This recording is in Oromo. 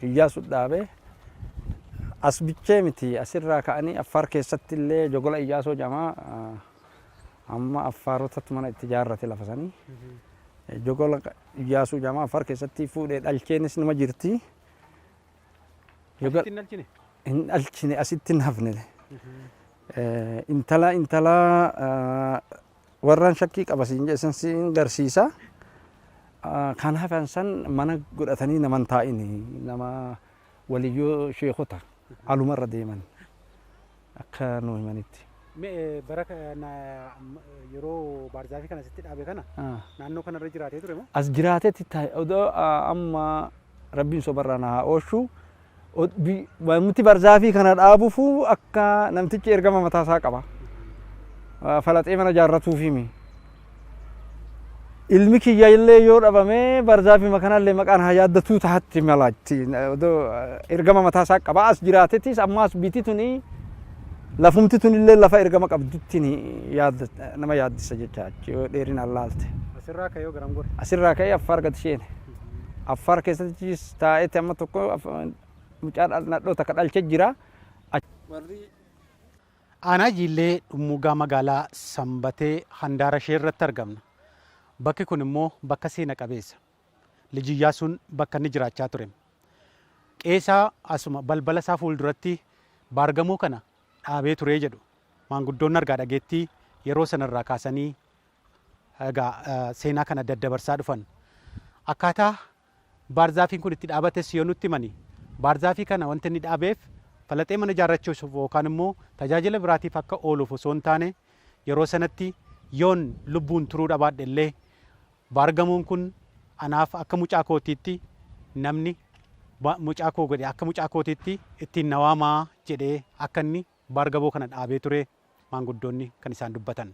Iyyaasu dhaabe. As bichee miti as irraa ka'anii Affaar keessatti illee Jogola Iyyaasoo jedhama. Amma Affaarotatu mana itti ijaarrate lafa sanii. Jogola Iyyaasuu jedhama. Affaar keessatti fuudhee dhalcheenis nima jirti. Asitti hin dhalchine? Hin dhalchine asitti hin hafne. Intala intala Warran shakkii qaba siin jedhe san siin garsiisa. Kan hafan san mana godhatanii nama hin taa'ini. Nama waliyyoo sheekota aluma irra deeman akka nuu himanitti. Me bara kana yeroo baarzaafii kana sitti dhaabe kana naannoo kana irra jiraatee ture moo? As jiraatetti odoo amma rabbiin sobarraa na haa oolchu. Muti barzaafii kana dhaabufu akka namtichi ergama mataa isaa qaba. Falaxee mana jaarratuufiimi. Ilmi kiyya illee yoo dhabamee barzaafii makanallee maqaan haa yaaddatuu tahatti mala itti ergama mataa isaa qaba. As jiraatetis ammaas biti tuni lafumti tun illee lafa ergama qabdutti nama yaaddisa jecha dheerinaan laalte. Asirraa ka'ee yoo garam gore? Asirraa ka'ee Affaar gad sheene. Affaar keessattis taa'eeti amma tokko mucaa nadhoo takka dhalchee jira. Warri. Aanaa Jiillee Dhummuugaa Magaalaa Sanbatee handaara ishee irratti argamna. Bakki kun immoo bakka seena qabeessa. Lij Iyyaasuun bakka inni jiraachaa ture. Qe'ee isaa asuma balbala isaa fuulduratti baargamoo kana dhaabee ture jedhu maanguddoonni argaa dhageettii yeroo sana irraa kaasanii Egaa seenaa kana daddabarsaa dhufan. Akkaataa baarzaafiin kun itti dhaabates yoo nutti himani, baarzaafii kana wanti inni dhaabeef falaxee mana ijaarrachuuf yookaan immoo tajaajila biraatiif akka ooluuf osoo hin taane, yeroo sanatti yoon lubbuun turuu dhabaadhe illee baargamoon kun anaaf akka mucaa kootiitti namni mucaa koo godhe akka mucaa kootiitti ittiin na waamaa jedhee akka inni baargaboo kana dhaabee ture maanguddoonni kan isaan dubbatan.